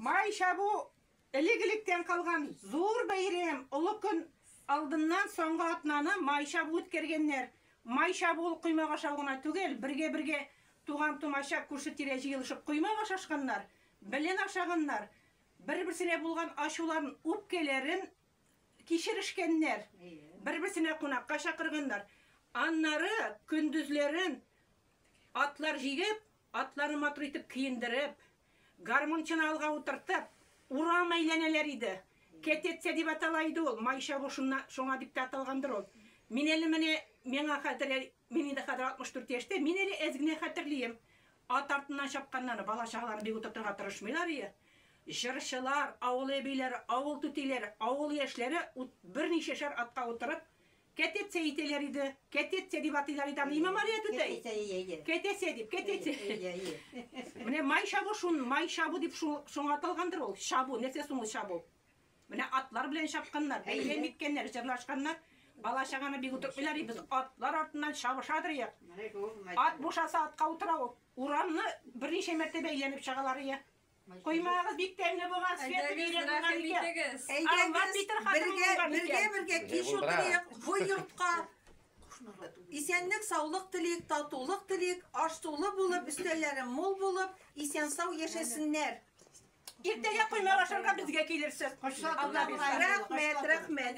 Май чабу элек-электән калган зур бәйрәм. Олы көн алдыннан соңгы атнаны май чабу үткәргәннәр. Май чабу ул коймак ашау гына түгел, бергә-бергә туган-тумача, күрше-тирә җыелышып коймак ашашканнар, белен ашаганнар, бер-берсенә булган ачуларын, үпкәләрен кичерешкәннәр, бер-берсенә кунакка чакырганнар. Аннары көндезләрен атлар җигеп, Атларны матур итеп киендереп, гармунчыны алга утыртып, урам әйләнәләр иде. Кетеция дип атала иде ул, май чабу шунна, шуңа дип тә аталгандыр ул. Мин әле менә, миңа хәзер, мин инде хәзер 64 яшьтә, мин әле әз генә хәтерлием. Ат артыннан чапканнарны, бала-чагаларны бик утыртырга тырышмыйлар ие. Җырчылар, авыл әбиләре, авыл түтиләре, авыл яшьләре ут, берничәшәр атка утырып, Кәтетсә әйтәләр иде. Кәтетсә дип атыйлар иде аны. Имә Мария түтәй. Кәтетсә, ие, ие. Кәтәсә дип, кәтәсә. Ие, ие. Менә май чабу шун, май чабу дип шул, шуңа аталгандыр ул. Чабу, нәрсә соң ул чабу? Менә атлар белән чапканнар, бәйләм иткәннәр, җырлашканнар. Бала-чаганы бик утыртмыйлар иде, без атлар артыннан чабыша торыйк. Ат бушаса, атка утыра ул. Урамны берничә мәртәбә әйләнеп чагалар, ие. Коймагы бик тәмле булган, светы бик тәмле булган икән. Әйдәгез, бергә, бергә, бергә кич утырыйк, бу йортка исәнлек, саулык телик, татулык телик, аш сулы булып, өстәлләре мул булып, исән сау яшәсеннәр. Иртәгә коймак ашарга безгә килерсез. Рәхмәт, рәхмәт.